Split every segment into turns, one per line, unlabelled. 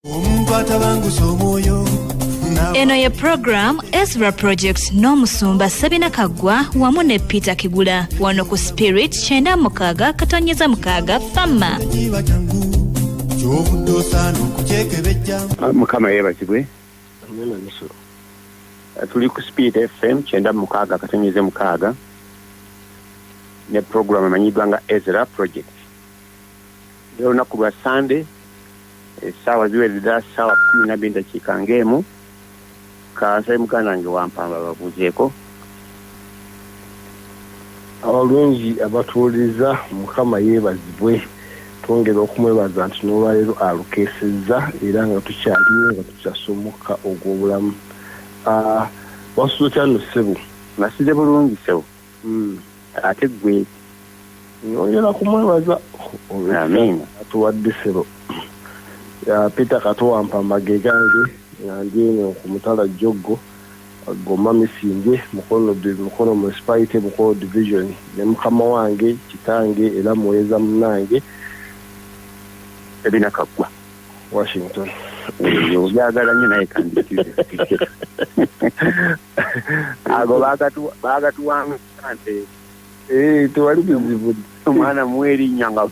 omuntu atabangusa omwoyo eno ye program ezra project n'omusumba sabina kaggwa wamu ne peter kigula wano ku spirit kyenda mukaaga katonyeza mukaaga fama kiba kyangu kyovudde osaana
okukyekebejja Ah, mukama yebazibwe Ah, tuli ku speed fm kyenda mu mukaaga akatonyeze mukaaga ne program emanyiddwa nga ezra project Leo lunaku lwa Sunday essaawa ziwerera ssaawa kumi nabiri ndakiika ng'emu kansabe muganda wange wampamba babuuzeeko
abalungi abatuwuliriza mukama yeebazibwe twongera okumwebaza nti n'olwaleero alukeesezza era nga tukyaliwo nga tukyasa omukka ogw'obulamu ah, wasuza kyano ssebo nasize bulungi
ssebo ate gwe nyongera
kumwebaza
atuwadde sebo
ya peter katuwampa mage gange nandyenyo ku mutala joggo goma misinge mukono mukono municipality mukono division ne mukama wange kitange era muweza munange
ebina kaggwa washington obyagala nyo naye kandi ago bagatuwanga nte eh,
tewali bizibu omwana muwa
erinnya nga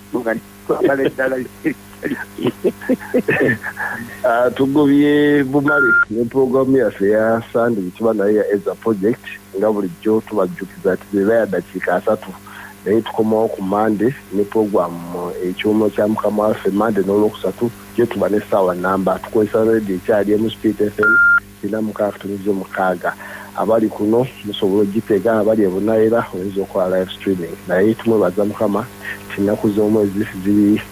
twagala eddala
ah, tugobye bumale ne puroguramu yaffe eya sande gyetuba naye ya eza project nga bulijjo tubajjukiza ti beba ya dakiika asatu naye tukomawo ku mande ne puroguramu eh, ekyuma kya mukama waffe mande n'olwokusatu gyetuba n'essaawa namba tukozesa radio ekyali emu speed fm Nina mukaaga tulinze mukaaga abali kuno musobola ojitega abali ebunayira oyinza okola live streaming naye tumwebaza mukama tinaku zomwezi ziri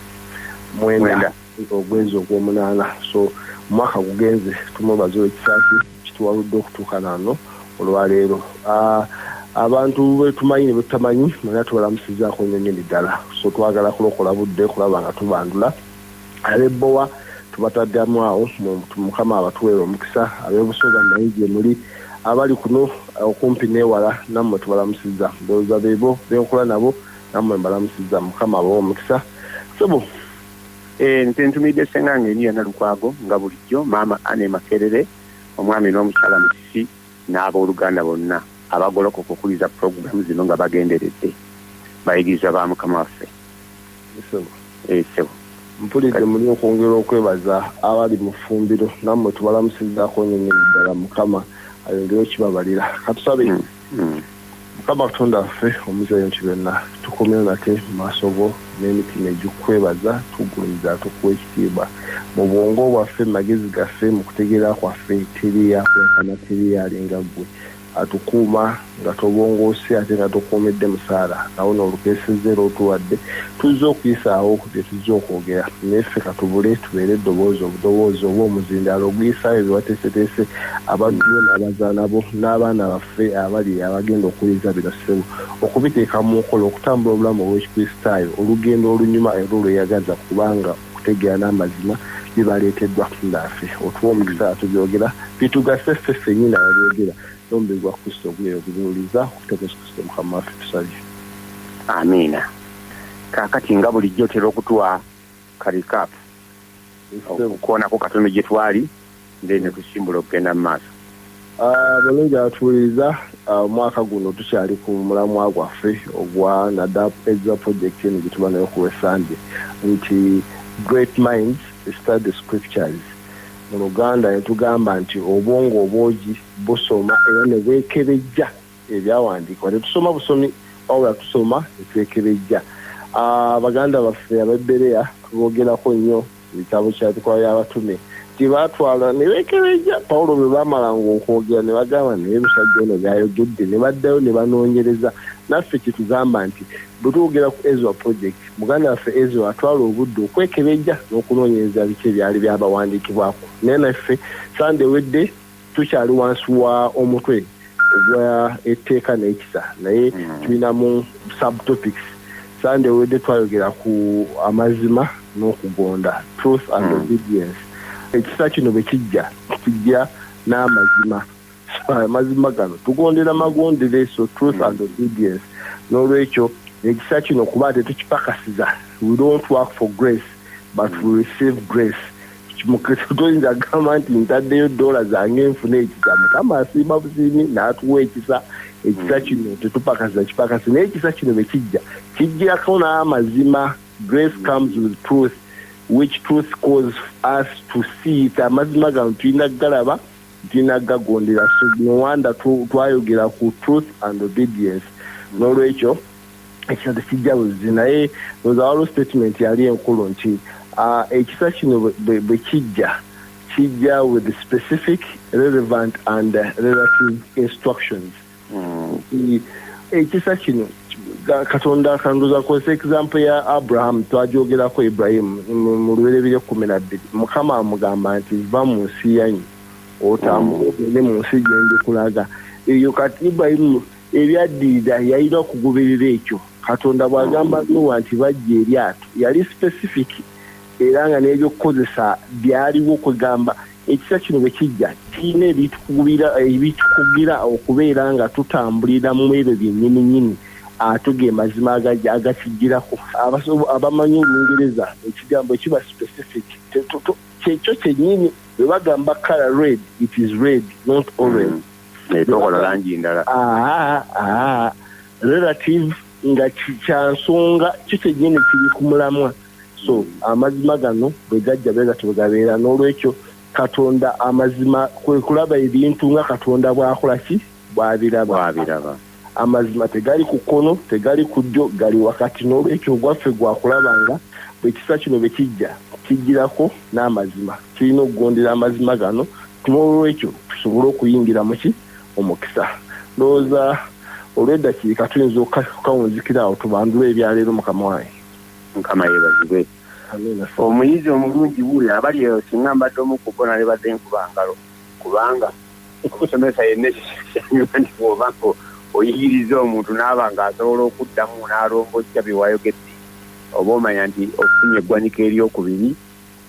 mwenda ogwezi ogwomunana so mwaka gugenze tumwebaza olwekisaki kituwaludde okutuuka nano olwaleero ah, abantu betumanyi nebetutamanyi mwena tubalamusizako nyo nyini ddala so twagala kulokola budde kulaba nga tubandula Abe Bowa tubataddamu awo mukama abatuwere omukisa abebusoga naye gyemuli abali kuno okumpi newala nammwe tubalamusiza ndowooza bebo benkola nabo nammwe mbalamusiza mukama abawe omukisa sebo eh,
nze ntumidde senga nga eni yona lukwago nga bulijjo maama ane makerere omwami n'omukyala musisi n'abooluganda bonna abagoloka okukuliza pulogulaamu zino nga bagenderedde bayigiriza ba mukama waffe Mpulidde
muli okwongera okwebaza abali mu fumbiro namwe tubalamusizako nyo nyo ddala mukama ayongere okibabalira katusabe mukama katonda waffe omuzi ebintu byonna tukomyewo nate mumaaso go n'emitima egikukwebaza tugumiza tukuwa ekitiibwa mu bwongo bwaffe mumagezi gaffe mukutegeera kwaffe teri yakwekana teri yalinga gwe atukuuma nga tobongoose ate nga tokuumidde musaala nawo n'olukeesezza era otuwadde tuzze okuyisaawo bye tuzze okwogera naye ffe ka tubule tubeere eddoboozi obudoboozi oba omuzindaalo oguyisaayo bye wateeseteese abantu bo n'abazaana bo n'abaana baffe abali abagenda okuwuliriza bino ssebo okubiteeka mu nkola okutambula obulamu obw'ekikristaayo olugendo olunyuma era olweyagaza kubanga okutegeera n'amazima bibaleeteddwa naafe otuwa omukisa atubyogera bitugase ffe ffenyini ababyogera nomubiri gwa kristo oguleero gubiwuliza okuyita mu yesu kristo mukama waffe tusabye amiina
kakati nga bulijjo otera okutuwa karikap okukoonako katono gye twali Nze ne kusimbula okugenda mu maaso. Ah, balungi
abatuwuliriza ah, omwaka guno tukyali ku mulamwa gwaffe ogwa nadap eza project eno gyetuba nayo ku wesande nti great minds study scriptures mu luganda netugamba nti obwongo obwogi busoma era nebwekebejja ebyawandiikibwa tetusoma busomi wabula tusoma netwekebejja ah, baganda baffe abebereya tubogerako nnyo Ebitabo kya Bikolwa by'Abatume gye baatwala ne beekebejja Pawulo bwe baamalanga okwogera ne bagamba naye musajja ono by'ayogedde ne baddayo ne banoonyereza. Naffe kitugamba nti bwe twogera ku Ezra Project, muganda waffe Ezra atwala obudde okwekebejja n'okunoonyereza biki ebyali byabawandiikibwako. Naye naffe Ssande ewedde. Tukyali wansi wa omutwe ogwa etteeka n'ekisa naye hmm. tulina mu subtopics sande ewedde twayogera ku amazima n'okugonda truth and hmm. obedience ekisa kino bwe kijja kijja n'amazima amazima gano tugondera magondere so truth hmm. and obedience n'olwekyo ekisa kino kuba tetukipakasiza we don't work for grace but we receive grace toyinza kugamba nti ntaddeyo doola zange nfuna ekisa mukama asiima busiimi n'atuwa ekisa ekisa mm. kino tetupakasa kipakasi naye ekisa kino bwe kijja kijjirako n'amazima grace mm. comes with truth which truth cause us to see it amazima gano tulina galaba tulina gagondera so nowanda twayogera ku truth and obedience mm. n'olwekyo ekisa tekijja buzzi naye oza waliwo statement yali enkulu nti ah, ekisa kino bwe kijja kijja with specific relevant and relative instructions hmm. ekisa kino katonda akanduza kozesa example ya abraham twajogerako ibrahimu mu luberebire kumi na bbiri mukama amugamba nti va mu nsi yanyi otambule ogende mu nsi gyendikulaga eyo kati ibrahimu Ebyaddirira yalina okugoberera ekyo Katonda bw'agamba Nuuwa nti baggye eryato. Yali specific era nga n'ebyokukozesa byaliwo kwegamba ekisa kino bwe kijja kirina ebitukugira okubeera nga tutambulira mu ebyo byennyininyini ate ge mazima agakijjirako. Abamanyi olungereza ekigambo kiba specific kyekyo kyennyini bwe bagamba color red it is red not orange. naye tokola
langi ndala relative
nga kyansonga kyo kyenyini kiri ku mulamwa so amazima gano bwe gajja bwe gatyo bwe gabeera n'olwekyo katonda amazima kwe kulaba ebintu nga katonda bw'akola ki bw'abiraba Amazima tegali ku kkono, tegali ku ddyo, gali wakati. N'olwekyo ogwaffe gwa kulaba nga bwe kisa kino bwe kijja, kijjirako n'amazima. Tulina okugondera amazima gano, n'olwekyo tusobole okuyingira mu ki? Mu mukisa. Ndowooza olw'eddakiika tuyinza okukawunzikira awo, tubandule ebya leero, Mukama wange. Mukama
yebazibwe. Omuyizi omulungi wuuyo, abali eyo, singa mbadde omu ku bo, nalibadde nkuba ngalo. kubanga omusomesa yenna ekisanyusa nti bwoba nga oyigiriza omuntu naaba nga asobola okuddamu n'alombojja byewayogedde oba omanya nti ofunye eggwanika eryokubiri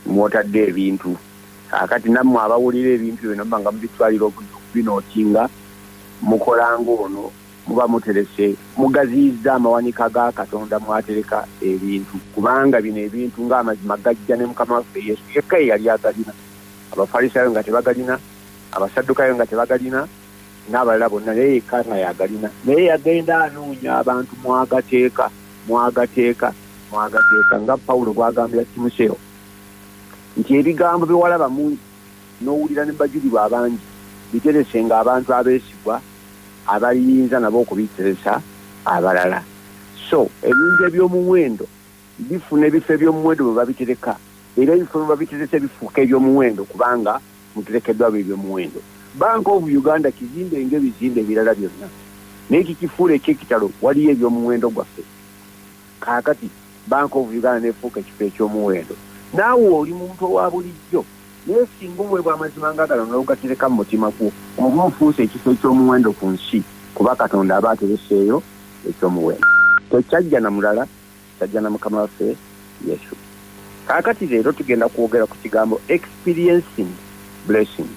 mwotadde ebintu akati nammwe abawulira ebintu bino mba nga mubitwalira obudde okubinootinga mukola ng'ono muba muterese mugaziyizza amawanika ga katonda mwatereka ebintu kubanga bino ebintu ng'amazima gajja ne mukama waffe yesu yekka eyali agalina Abafalisaayo nga tebagalina, Abasaddukaayo nga tebagalina, n'abalala bonna, naye yekka nga y'agalina. Naye yagenda anoonya abantu mu Agateeka, mu Agateeka, mu Agateeka, nga Pawulo bw'agambira Timoseewo nti, Ebigambo bye walaba mu, n'owulira ne mu bajulirwa abangi, biteresenga abantu abeesigwa abaliyinza nabo okubiteresa abalala. So, ebintu eby'omuwendo. Bifuna ebifo eby'omuwendo mwe babitereka era ebifo mwe babiterese bifuuka eby'omuwendo kubanga muterekeddwa ab'eby'omuwendo. Bank of Uganda kizimbe ng'ebizimbe ebirala byonna naye ekikifuula eky'ekitalo waliyo eby'omuwendo gwaffe. Kaakati Bank of Uganda n'efuuka ekifo eky'omuwendo naawe oli muntu owa bulijjo naye singa oweebwa amazima nga gano n'ogatereka mu mutima gwo oba ofuuse ekifo eky'omuwendo ku nsi kuba Katonda aba atereseeyo eky'omuwendo. Tekyajja na mulala. Sajja na Mukama waffe Yesu. Kaakati leero tugenda kwogera ku kigambo experiencing blessing.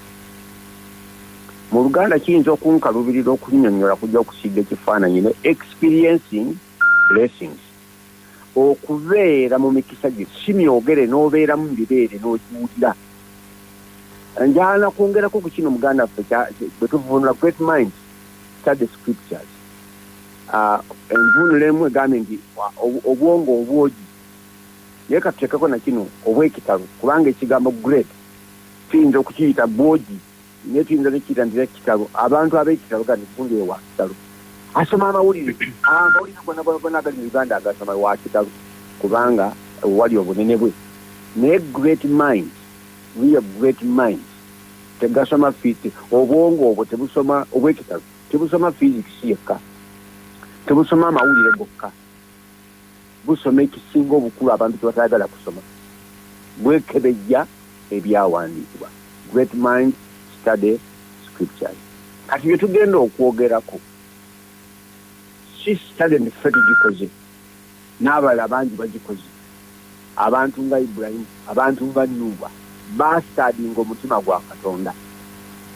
Mu Luganda kiyinza okunkalubirira okunyonyola kujja okusiiga ekifaananyi ne experiencing blessings. Okubeera mu mikisa gye si myogere n'obeeramu mu bibeere n'ogiwulira. Njaana kwongerako ku kino muganda waffe bwe tuvunula great minds study scriptures. Ah, envuunula emu egambye nti obwongo obwogi naye katuteekeko na kino obwekitalo kubanga ekigambo great tuyinza okukiyita bwogi naye tuyinza nekiyita nti ekitalo abantu abekitalo gani gundi ewa kitalo asoma amawulire ah, amawulire gonagona agali mu uganda agasoma wa kitalo kubanga wali obunene bwe naye great mind real great mind tegasoma fiti obwongo obwo tebusoma obwekitalo tebusoma physics yekka tebusoma amawulire gokka busoma ekisinga obukulu abantu tebatayagala kusoma bwekebejja ebyawandiikibwa great mind study scriptures kati byetugenda okwogerako si study ffe tugikoze n'abalala bangi bagikoze. Abantu nga Ibulayimu, abantu nga Nuuwa, baasitaadinga omutima gwa Katonda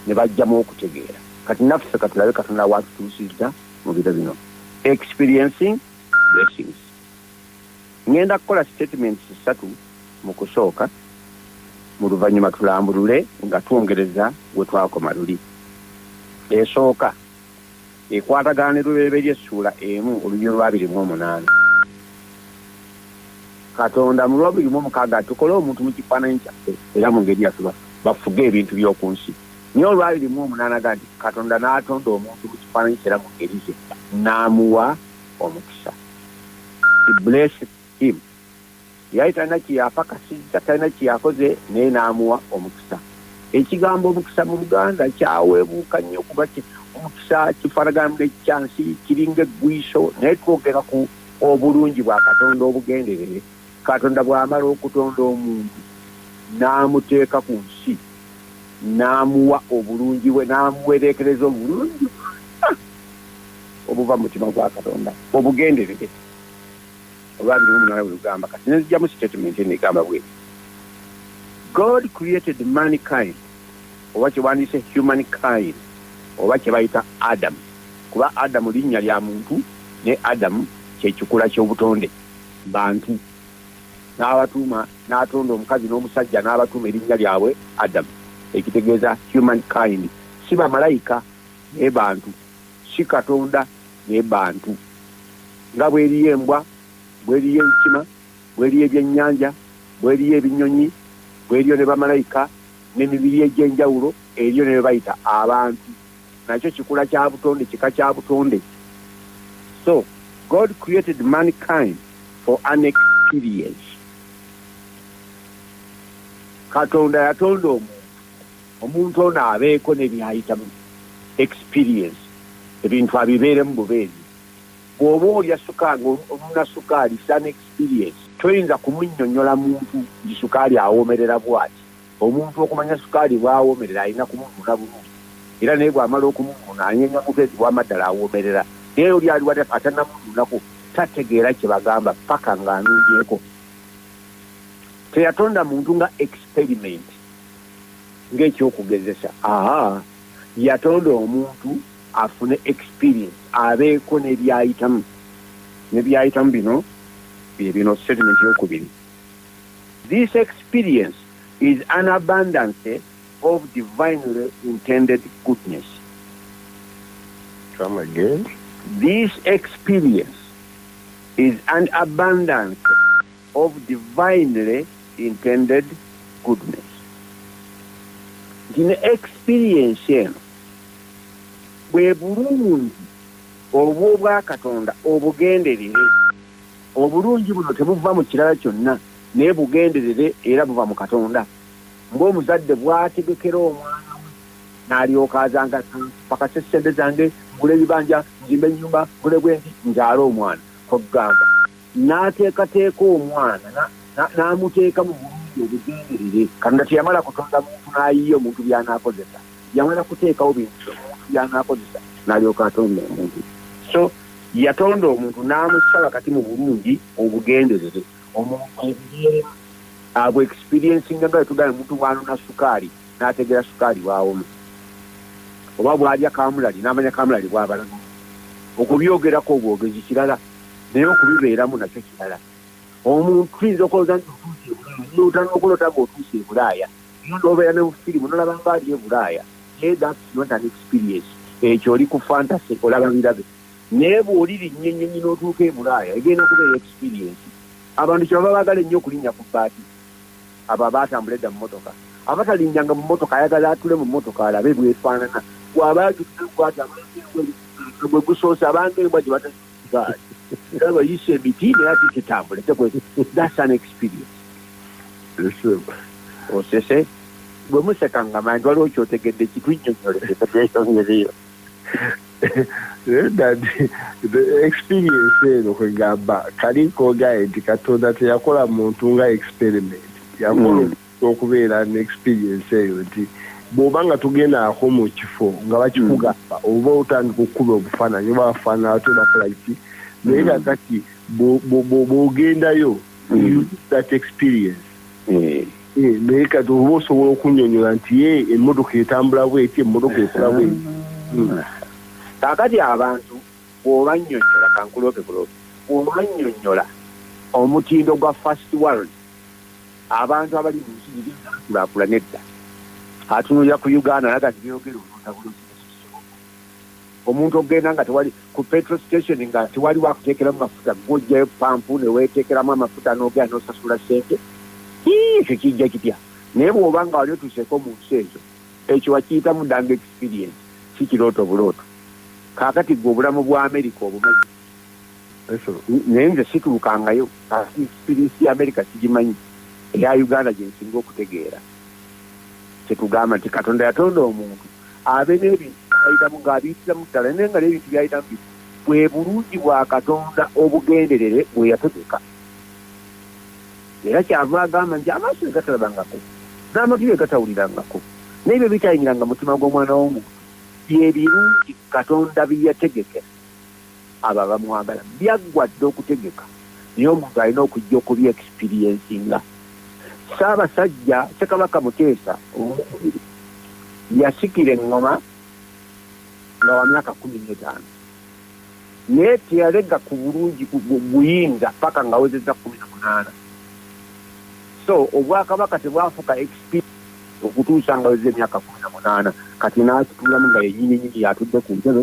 ne baggyamu okutegeera. Kati naffe ka tulabe Katonda w'atutuusizza mu biro bino. Experiencing Blessings. Ŋŋenda kukola sitatimenti ssatu mu kusooka, mu luvannyuma tulambulule nga twongereza we twakoma luli. Esooka. ekwatagana ne Lubereberye Ssuula emu olunyiriri lwa abiri mu omunaana. Katonda mu lwa abiri mu omukaaga ati, Tukole omuntu mu kifaananyi kyaffe era mu ngeri yaffe bafuge ebintu by'oku nsi. Naye olwa abiri mu omunaana ga nti, Katonda n'atonda omuntu mu kifaananyi kye era mu ngeri ze, n'amuwa omukisa. He blessed him. yali talina kyeyapakasizza talina kyeyakoze naye n'amuwa omukisa ekigambo omukisa mu luganda kyaweebuuka nnyo kuba omukisa kifaanagana nekyansi kiringa eggwiiso naye twogera ku obulungi bwa katonda obugenderere katonda bw'amala okutonda omuntu n'amuteeka ku nsi n'amuwa obulungi bwe n'amuwereekereza obulungi obuva mu mutima gwa katonda obugenderere oba abiri mumunana bwelugamba kati nenzijamu statement eno egamba bwe god created mankind oba kyewandiyise human kind oba kyebayita adamu kuba adamu linnya lya muntu ne adamu kyekikula kyobutonde bantu n'abatuuma n'atonda omukazi n'omusajja n'abatuuma erinnya lyabwe adamu ekitegeeza human kind si bamalayika naye bantu si Katonda naye bantu. Nga bw'eriyo embwa, bw'eriyo enkima, bw'eriyo ebyennyanja, bw'eriyo ebinyonyi, bw'eriyo ne bamalayika n'emibiri egy'enjawulo, eriyo ne be bayita abantu. Nakyo kikula kya butonde, kika kya butonde. So, God created mankind for an experience. Katonda yatonda omuntu. Omuntu ono abeeko ne by'ayitamu, experience, ebintu abibeeremu bubeezi. Bw'oba olya sukaali, onona sukaali, it's an experience. Toyinza kumunnyonnyola muntu nti sukaali awoomerera bw'ati. Omuntu okumanya sukaali bw'awoomerera alina kumunona bulungi era naye bw'amala okumunona anyeenya mubeezi wama ddala awoomerera. Naye oli ali wali atannamunonako tategeera kye bagamba ppaka ng'anonyeeko. Teyatonda muntu nga experiment. ng'ekyokugezesa aha yatonda omuntu afune experience abeeko nebyayitamu nebyayitamu bino byebino statement yokubiri this experience is an abundance of divinely intended goodness.
Come again. This
experience is an abundance of divinely intended goodness nti ne experience eno bwe bulungi obw'obwakatonda obugenderere obulungi buno tebuva mu kirala kyonna naye bugenderere era buva mu katonda ng'omuzadde bwategekera omwana we n'alyoka azanga pakasa essente zange ngula ebibanja nzimba ennyumba ngule bwendi nzaala omwana kwegamba N'ateekateeka omwana, na, na, n'amuteeka mu bulungi obugenderere. Katonda teyamala kutonda muntu n'ayiya omuntu by'anaakozesa. Yamala kuteekawo bintu omuntu by'anaakozesa, n'alyoka atonda omuntu. So, yatonda omuntu n'amussa wakati mu bulungi obugenderere. Omuntu abubeeremu, abwexperiencinga nga bwe tugamba omuntu bw'anona sukaali n'ategeera sukaali bw'awoma, oba bw'alya kaamulali n'amanya kaamulali bw'abalaga. Okubyogerako obwogezi kirala. naye okubibeeramu nakyo kirala. Omuntu tuyinza okulowooza nti otuuse ebulaaya nolota nokulota nga otuuse ebulaaya no nobeera ne bufirimu nolaba nga ali ebulaaya naye that's not an experience ekyo oli ku fantasy olaba birabe naye bwolirinnya ennyonyi n'otuuka ebulaaya egenda kubeera experience abantu kyebaba bagala ennyo okulinnya ku baati abo abaatambula edda mu motoka abatalinnyanga mu motoka ayagala atule mu motoka alabe bwefaanana bwaba agiaa bwati abagwe gusoose abanga embwa gye bata but ndaba yisa emiti naye ati kitambule tekwezi that's an experience osese oh, bwe museka nga manti waliwo kyotegedde kitwinyonyoleeyo
dadi experience eno kwegamba kali kogaye nti katonda teyakola muntu nga experiment yakola mm. okubeera ne experience eyo nti bwoba nga togendaako mu kifo nga bakikugamba hmm. oba otandika okukuba obufaananyi oba bafaanana ate bakolaki naye nga hmm. kati bwogendayo hmm. that experience eh, naye kati oba osobola okunyonyola nti ye emmotoka etambula bweti emmotoka ekola bweti
kakati abantu bwobanyonyola kankulope kulope bwobanyonyola omutindo gwa fast world abantu abali mu nsi ziri zaakulaakula nedda atunulira ku uganda naga nti byogera onotabula omuntu okugenda nga tewali ku petro station nga tewali wakuteekeramu mafuta gwojjayo pampu neweteekeramu amafuta nogera nosasula sente ekyo kijja kitya naye bwoba nga wali otuseeko mu nsi ezo ekyo wakiyitamu danga experience si kirooto bulooto kaakati gwe obulamu bwa amerika obumanyi naye nze situukangayo siriisi ya amerika sigimanyi eya uganda gyensinga okutegeera kyetugamba nti katonda yatonda omuntu abe n'ebintu byayitamu ng'abiyitiramu ddala naye nga n'ebintu byayitamu bi bwe bulungi bwa katonda obugenderere bwe yategeka era kyava agamba nti amaaso egatalabangako n'amatu egatawulirangako n'ebyo bitayingiranga mutima gw'omwana w'omuntu bye birungi katonda bye yategekera abo abamwagala byaggwa dda okutegeka naye omuntu alina okujja okubye experiencinga. Ssaabasajja Ssekabaka Muteesa ow'okubiri yasikira engoma nga wa myaka kkumi n'etaano naye teyalega ku bulungi buyinza paka nga awezezza kkumi na munaana so obwakabaka tebwafuka experience okutuusa nga weza emyaka kumi na munaana kati n'akitulamu nga yenyini nyini y'atudde ku ntebe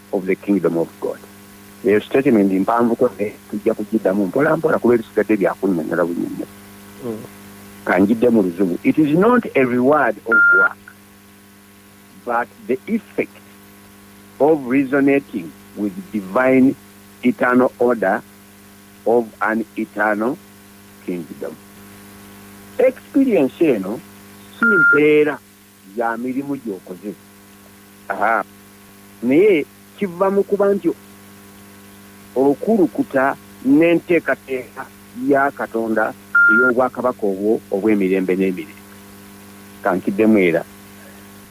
of the kingdom of God eyo statement mpanvu ko eh, tujja kugiddamu mpola mpola kuba ebisigadde byakunyonyola bunyonyo hmm. kanjidde mu luzungu it is not a reward of work but the effect of resonating with divine eternal order of an eternal kingdom experience eno si mpeera ya mirimu gyokoze aha naye kiva mu kuba nti okulukuta n'enteekateeka ya Katonda ey'obwakabaka obwo obw'emirembe n'emirembe. Kankiddemu era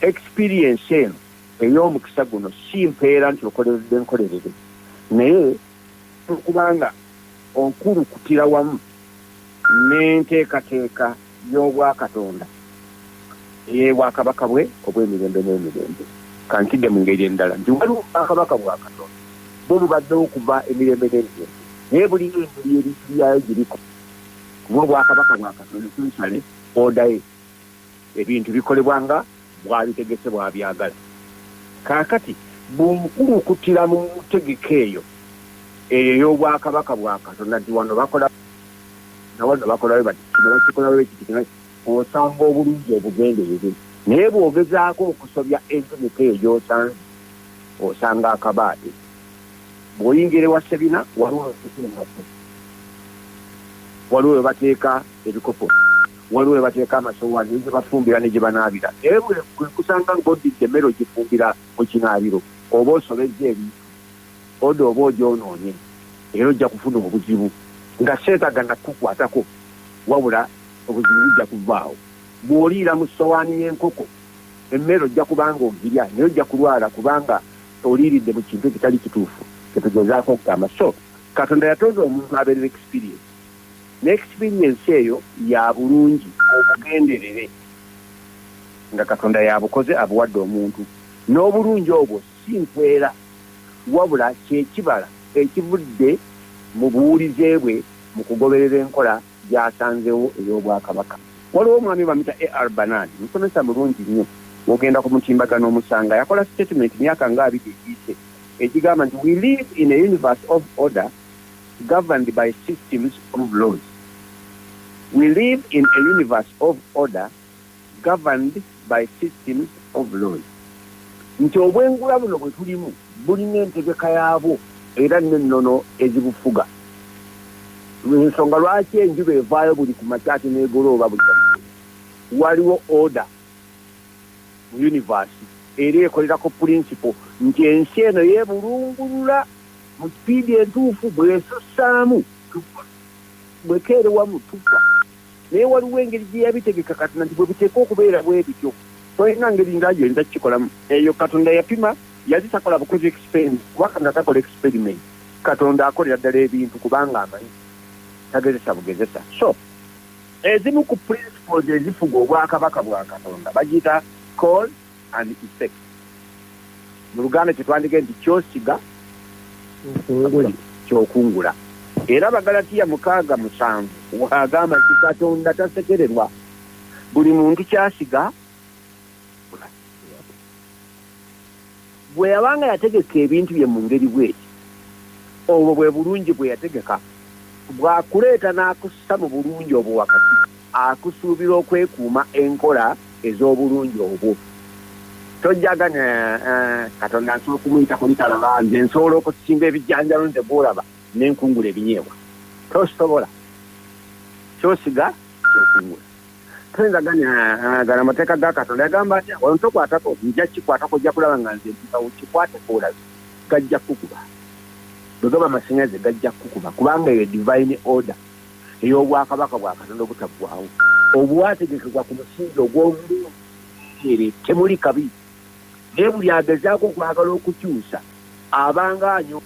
experience eno ey'omukisa guno si mpeera nti okoleredde nkolerere naye okuba nga okulukutira wamu n'enteekateeka y'obwakatonda ey'ebwakabaka bwe obw'emirembe n'emirembe. Kankidde mu ngeri endala nti waliwo obwakabaka bwa Katonda bwe bubadde okuva emirembe n'emirembe, naye bulina engeri ebintu byayo gye bikola. Kuba obwakabaka bwa Katonda, essentially, order ye, ebintu bikolebwa nga bw'abitegese bw'abyagala. Kaakati, bw'okulukuttira mu ntegeka eyo, eyo ey'Obwakabaka bwa Katonda, nti, Wano bakola bati, na wano bakola bwe bati, kino bakikola bwe kiti, kino bwe kiti, osanga obulungi obugenderere. Naye bw'ogezaako okusobya entegeka eyo gy'osanze, osanga akabaate. Bw'oyingira ewa ssebina, waliwo we bateeka engatto, waliwo we bateeka ebikopo. waliwo we bateeka amasowaani ne gye bafumbira ne gye banaabira. Naye bwe nkusanga ng'oddidde emmere ogifumbira mu kinaabiro oba osobezza ebintu, oda oba ogyonoonye era ojja kufuna obuzibu nga seetaaga na kukukwatako wabula obuzibu bujja kuvaawo. Bw'oliira mu ssowaani y'enkoko emmere ojja kuba ng'ogirya naye ojja kulwala kubanga oliiridde mu kintu ekitali kituufu kye tugezaako okugamba. So Katonda yatonda omuntu abeerera experience. ne experience eyo yabulungi obugenderere nga katonda yabukoze abuwadde omuntu n'obulungi obwo si nsweera wabula kyekibala ekivudde mu buwulize bwe mu kugoberera enkola gyasanzewo ey'obwakabaka. Waliwo omwami bamuyita AR Bernard musomesa mulungi nnyo bwogenda ku mutimbagano omusanga yakola statement myaka nga abiri egiyise egigamba nti we live in a universe of order, governed by systems of laws. We live in a universe of order governed by systems of laws. Nti obwengula buno bwe tulimu bulina entegeka yaabwo era n'ennono ezibufuga. Ensonga lwaki enjuba evaayo buli ku makya ate n'egolooba buli waliwo order mu universe era ekolerako pulinsipo nti ensi eno yeebulungulula mu sipiidi entuufu bw'esussaamu tufa, bw'ekeere wamu tufa. Naye waliwo engeri gye yabitegeka Katonda nti bwe biteekwa okubeera bwe bityo. Tolina ngeri ndala gy'oyinza kukikolamu. Eyo Katonda yapima, yali takola bukozi experiment kuba Katonda takola experiment. Katonda akolera ddala ebintu kubanga amanyi, tagezesa bugezesa. So, ezimu ku principles ezifuga obwakabaka bwa Katonda bagiyita cause, and effect mu luganda kyetwandige nti kyosiga kyokungula era abagalatiya mukaaga musanvu waagamba nti katonda tasekererwa buli muntu kyasiga Bwe yabanga yategeka ebintu bye mu ngeri bw'eti, obwo bwe bulungi bwe yategeka, bw'akuleeta n'akussa mu bulungi obwo wakati, akusuubira okwekuuma enkola ez'obulungi obwo. Tojja ganya, Uh-huh. Katonda nsobola okumuyita ku litalaba. Nze nsobola okusimba ebijanjalo nze gw'olaba ne nkungula ebinyeebwa. Tosobola. Ky'osiga ky'okungula. toyinza gani gala amateeka ga katonda yagamba atya wano tokwatako nja kikwatako ojja kulaba nga nze mpisawo kikwateko olabi gajja kukuba bwegaba amasanyaze gajja kukuba kubanga eyo divine order ey'obwakabaka bwa katonda obutaggwawo obwategekebwa ku musingi ogw'obulungi temuli kabi naye buli agezaako okwagala okukyusa abanga anyo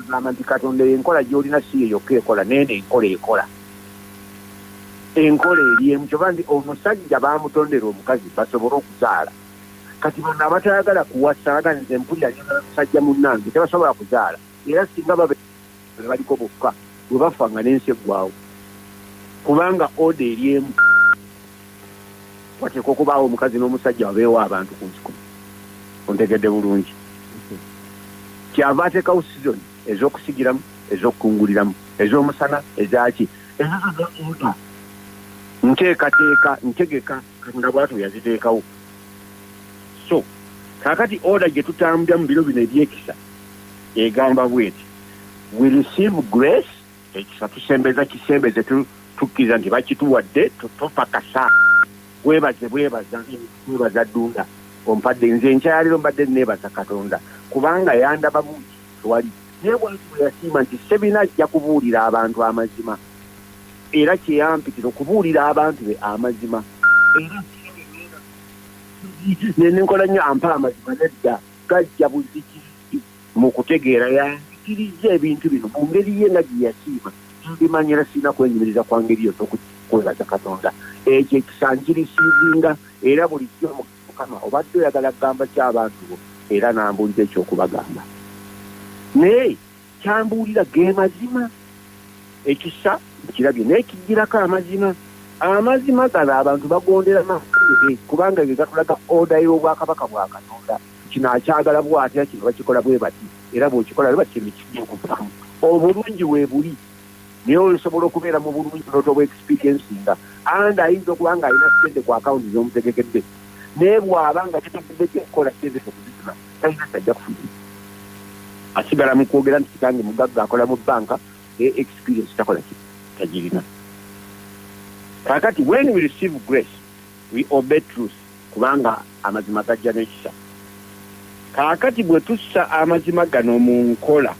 agamba nti katonda eyo enkola gyolina si ye yokka ekola neeno enkola ekola enkola eri emu kyoba nti omusajja bamutondera omukazi basobole okuzaala kati bano abatayagala kuwasa aga nze mpulira nyomusajja munange tebasobola kuzaala era singa babe be baliko bokka bwe bafa nga n'ensi eggwawo kubanga oda eri emu wateekwa okubaawo omukazi n'omusajja wabeewo abantu ku nsi kuno ontegedde bulungi kyava ateekawo sizoni ez'okusigiramu ez'okukunguliramu ez'omusana ezaaki ezo zonna oda nteekateeka ntegeka katonda bwatu yaziteekawo so kakati oda gye tutambulira mu biro bino ebyekisa egamba bweti we receive grace ekisa tusembeza kisembeze tukkiriza nti bakituwadde tupakasa webaze bwebaza webaza dunda ompadde nze enkyaliro mbadde nebaza katonda kubanga yandaba bungi twali naye bwati bweyasiima nti sebina ajja kubuulira abantu amazima era kyeyampitira okubuulira abantu be amazima nenenkola nnyo ampa amazima nedda gajja buziki Mu kutegeera, yanjigirizza ebintu bino mu ngeri ye nga gye yasiima. Mbimanya era sirina kwenyumiriza kwa ngeri yonna okujjako okwebaza Katonda. Ekyo ekisa nkirisiivinga era bulijjo mu Mukama obadde oyagala kugamba ki abantu bo era n'ambuulira eky'okubagamba. Naye ky'ambuulira ge mazima. Ekisa nkirabye naye kijjirako amazima. Amazima gano abantu bagondera mazima ge kubanga ge gatulaga oda y'Obwakabaka bwa Katonda. kino akyagala bwatya kino bakikola bwebati era bwokikola bwebati kino kijja okuvaamu obulungi webuli naye osobola okubeera mu bulungi notoba experiencinga and ayinza okuba nga alina sente ku akawunti zomutegekedde naye bwaba nga kitaguddeko okukola sente okuzisima talina tajja kufuna asigala mu kwogera nti kitange mugagga akola mu banka naye experience takola ki tagirina kakati when we receive grace we obey truth kubanga amazima gajja n'ekisa. Kaakati bwe tussa amazima gano mu nkola,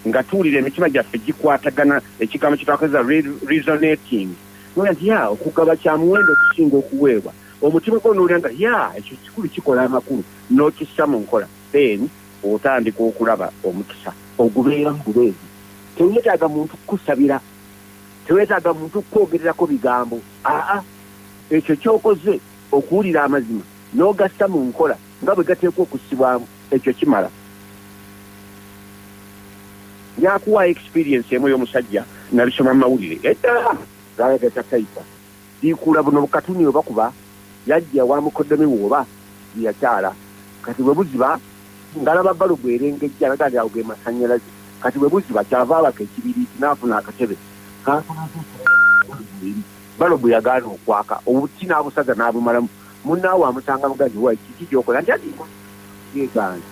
nga tuwulira emitima gyaffe gikwatagana, ekigambo kye twakozesa, re, resonating, n'owulira nti, ya, okugaba kya muwendo okusinga okuweebwa, omutima gwo n'owulira nga, ya, ekyo kikulu, kikola amakulu, n'okissa mu nkola, then otandika okulaba omukisa ogubeeramu bubeezi. Teweetaaga muntu kukusabira. Teweetaaga muntu kukwogererako bigambo. A-a. Ekyo ky'okoze, okuwulira amazima n'ogassa mu nkola nga bwe gateekwa okussibwamu, ekyo kimala. Nja kuwaayo experience emu ey'omusajja nnabisoma mu mawulire edda, zaali ga za tayipa. Biikuula buno bukatuni oba kuba yajja wa mukoddomi we oba gye yakyala. Kati bwe buziba, ng'alaba balubu erengejja alaga nti ago ge masannyalaze. Kati bwe buziba ky'ava abaka ekibiriiti n'afuna akatebe k'akozesa okuwulira nga balubu eri. Balobu yagaana okwaka, obuti n'abusaza n'abumalamu. Munnaawe amusanga muganzi we, Kiki ky'okola? Nti ati nkoze ekibi. Yeegaana.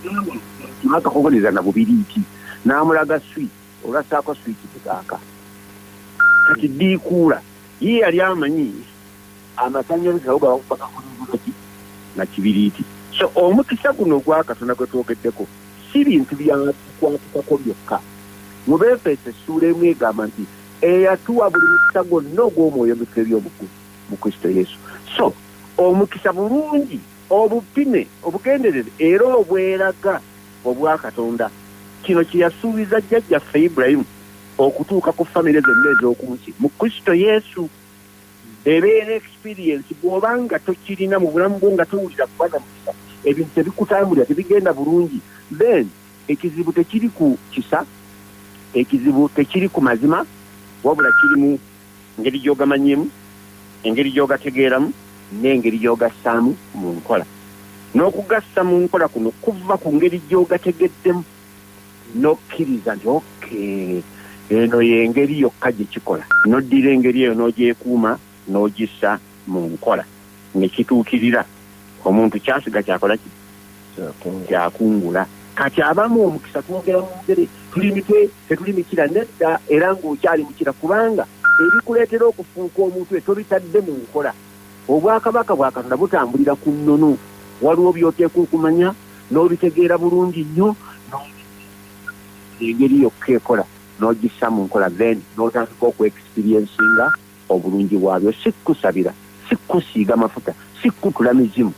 N'amuloopera akakokoleza na bubiriiti n'amulaga swiki olwo assaako swiki ne gaaka. Kati ddiikuula ye yali amanyi amasannyalaze nago gaba gakubaka ku nvuba ki? Na kibiriiti. So omukisa guno ogwa Katonda gwe twogeddeko si bintu bya kukwatikako byokka. Mu Beefeso essuula emu egamba nti, eyatuwa buli mukisa gwonna ogw'omwoyo gutebye obukulu mu kristo yesu so omukisa bulungi obupime obugenderere era obweraga obwa katonda kino kyeyasuubiza jjajjaffe ibulayimu okutuuka ku famire zonna ez'okunsi mu kristo yesu ebeera experiensi bw'oba nga tokirina mu bulamu bwo nga towulira kuba na mukisa ebintu tebikutambulira tebigenda bulungi then Ekizibu tekiri ku kisa, ekizibu tekiri ku mazima, wabula kiri mu ngeri gy'ogamanyiimu, engeri gy'ogategeeramu, n'engeri gy'ogassaamu mu nkola. N'okugassa mu nkola kuno kuva ku ngeri gy'ogategeddemu n'okkiriza nti okay, eno y'engeri yokka gye kikola, n'oddira engeri eyo n'ogyekuuma. n'ogissa mu nkola ne kituukirira, omuntu kyasiga kyakola ki? Kyakungula. Kati abamu omukisa twogera mu bugere, tuli mitwe, tetuli mikira. Nedda, era ng'okyali mukira kubanga ebikuleetera okufuuka omutwe tobitadde mu nkola. Obwakabaka bwa Katonda butambulira ku nnono. Waliwo by'oteekwa okumanya n'obitegeera bulungi nnyo n'obikkiriza engeri yokka ekola n'ogissa mu nkola then n'otandika okwexperiencinga Obulungi bwabyo si kukusabira, si kukusiiga mafuta, si kukutula mizimu,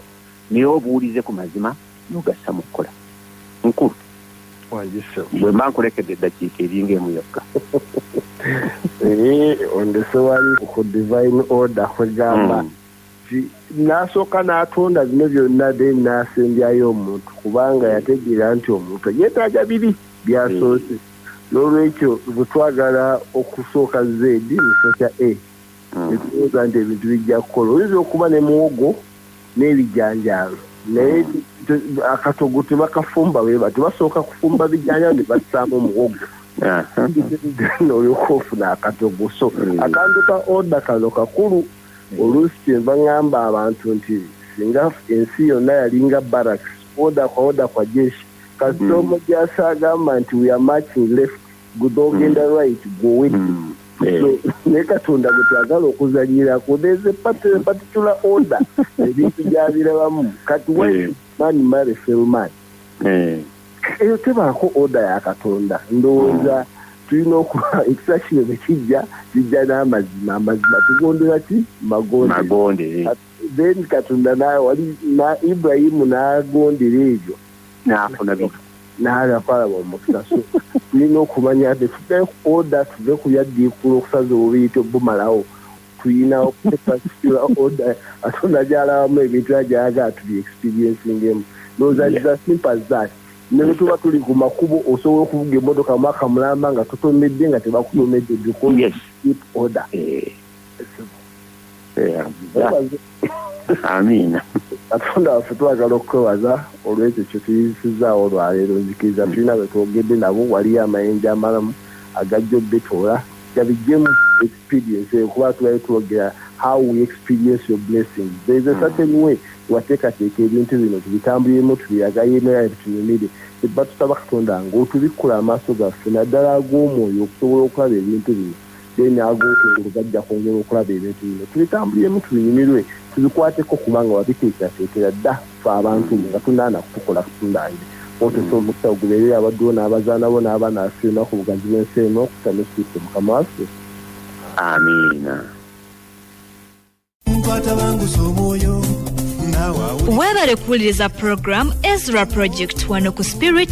naye obuwulize ku mazima n'ogassa mu kukola. Mukulu, bwe mba nkulekedde eddakiika eri ng'emu yokka. Ee,
ondese wali ku divine order kwegamba. Hmm. n'asooka n'atonda bino byonna then n'asembyayo omuntu kubanga yategeera nti omuntu yeetaaga biri byasoose n'olwekyo bwe twagala okusooka z musooka a hmm. netuwooza nti ebintu bijja kukola oyinza okuba ne muwogo n'ebijanjaalo naye hmm. akatogo tebakafumba weba tebasooka kufumba bijanjaalo ne bassaamu muwogo olyoka ofuna akatogo so hmm. akantu ka oda kano kakulu Oluusi kyenva ngamba abantu nti singa ensi yonna yalinga barracks, order kwa order kwa jeshi, kasita omujaasi agamba nti we are marching left, gwe ogenda right, gwe owedde. So ne Katonda gwe twagala okuzanyirako there's a particular order ebintu gyabirabamu. Kati why should man marry felman? eh. eyo tebaako oda ya katonda ndowooza hmm. tulina okuba ekisa kino ne kijja kijja n'amazima amazima tugondera ki magonde eh. then katonda wali na ibrahimu n'agondera ebyo n'afuna bino
naala kwalaba
omukisa so tulina okumanya nti tuve oda tuve ku byaddiikuula okusaza obubiyita obumalawo tuyina okupasitula oda atonda gyalabamu ebintu era gyayagala tubi experiencingemu nozaziza simple as that ne bwe tuba tuli ku makubo osobola okuvuga emmotoka mwaka mulamba nga totomedde nga tebakutomedde because keep order eh. Yeah.
amiina katonda waffe
twagala okukwewaza olwekyo kyetuyisizaawo olwaleero nzikiriza mm. tulina betwogedde nabo waliyo amayinja amalamu agajja obitoola gabijjemu experience eyo kuba tubale twogera how we experience your blessing there's a mm. certain way wateekateeka ebintu bino tubitambuliremu tubiragayo emera ebitunyumire ebba tusaba katonda ngaotubikkula amaaso gaffe naddala ag'omwoyo okusobola okulaba ebintu bino then agokungulu gajja kwongera okulaba ebintu bino tubitambuliremu tubinyumirwe tubikwateko kubanga wabiteekerateekera dda fe abantu nga tunaana kutukola kutundange otesa omukisa ogubeerere abadduwo n'abazaana bo n'abaana afe enaku bugazi bw'ensi eno okuta ne kristo mukama waffe amiina
nkwatabangusa
omwoyo weebale kuwuliriza puroguramu ezra project wano ku spirit